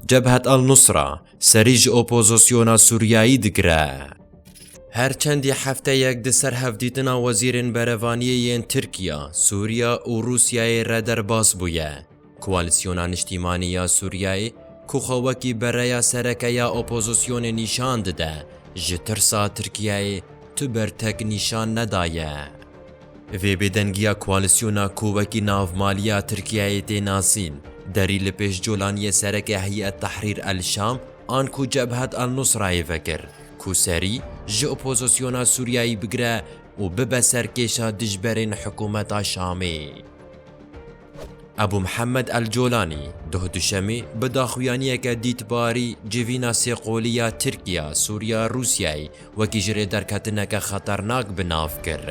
Cebhet al-Nusra serî ji opozisyona Sûriyeyî digire. Her çendî hefteyek di ser hevdîtina wezîrên berevaniyê yên Tirkiya, Sûriya û Rûsyayê re derbas bûye. Koalîsyona Niştîmanî ya Sûriyeyê ku xwe wekî bereya sereke ya opozisyonê nîşan dide, ji tirsa Tirkiyeyê tu ber tek nîşan nedaye. Vê bêdengiya koalîsyona ku wekî navmaliya Tirkiyeyê tê nasîn, derî li pêş colaniyê sereke Heyet Tehrîr El Şam an ku Cebhet El Nusrayê vekir ku serî ji opozisyona Sûriyeyê bigire û bibe serkêşa dijberên hikûmeta Şamê. Ebû Mihemed El Colanî doh duşemê bi daxuyaniyeke dîtbarî civîna sêqolî ya Tirkiya, Sûriya, Rûsyayê wekî ji rê derketineke xeternak bi nav kir.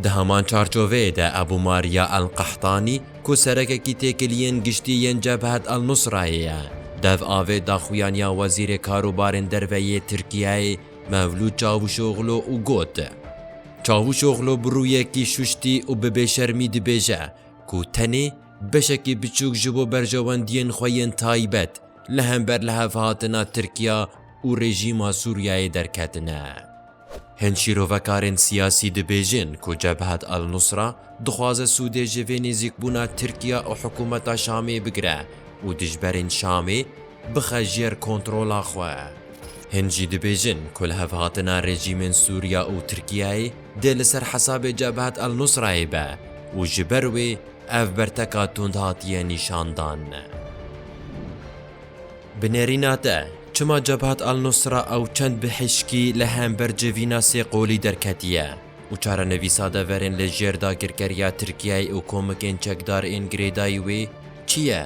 Di heman çarçoveyê de Ebû Mariya El Qehtanî ku serekekî têkiliyên giştî yên Cebhet El Nusrayê ye, dev avê daxuyaniya Wezîrê Karûbarên Derve yê Tirkiyeyê Mevlût Çavuşoglu û got, Çavuşoglu bi rûyekî şuştî û bi bêşermî dibêje ku tenê beşekî biçûk ji bo berjewendiyên xwe yên taybet li hember lihevhatina Tirkiya û rejîma Sûriyeyê derketine. Hin şîrovekarên siyasî dibêjin ku Cebhat al-Nusra dixwaze sûdê ji vê nêzîkbûna Tirkiya û hikûmeta Şamê bigire û dijberên Şamê, bixe jêr kontrola xwe. Hin jî dibêjin ku li hev hatina rejîmên Sûriya û Tirkiyeyê dê li ser hesabê Cebhat el-Nusrayê be û ji ber wê ev berteka tund hatiye nîşandan. Bi nêrîna te, çima Cebhat el-Nusra ew çend bi hişkî li hember civîna sê qolî derketiye û çarenivîsa deverên li jêr dagirkeriya Tirkiyeyê û komikên çekdar ên girêdayî wê çi ye?